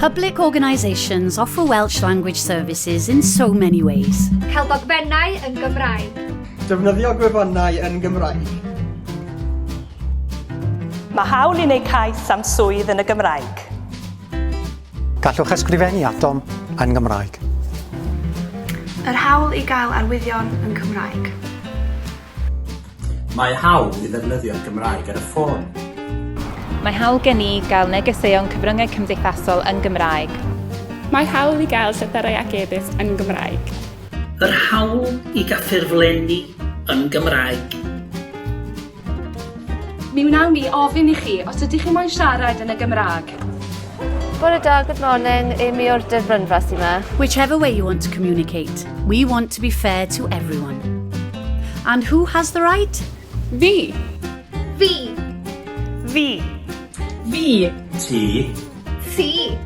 Public organisations offer Welsh language services in so many ways. Cael dogfennau yn Gymraeg. Defnyddio gwefannau yn Gymraeg. Mae hawl i wneud cais am swydd yn y Gymraeg. Gallwch ysgrifennu atom yn Gymraeg. Yr hawl i gael arwyddion yn Cymraeg. Mae hawl i ddefnyddio'r Gymraeg ar y ffôn. Mae hawl gen i gael negeseuon cyfryngau cymdeithasol yn Gymraeg. Mae hawl i gael llythyrau ac e-byst yn Gymraeg. Yr hawl i gael ffurflenni yn Gymraeg. Mi wnawn ni ofyn i chi os ydych chi moyn siarad yn y Gymraeg. Bore da, good morning, Amy o'r Dyfrynfa sy'n ma. Whichever way you want to communicate, we want to be fair to everyone. And who has the right? Fi. Fi. Fi. Fi. Ti. Ti.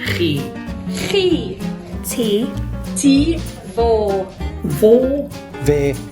Chi. Chi. Ti. Ti. Fo. Fo. Fe.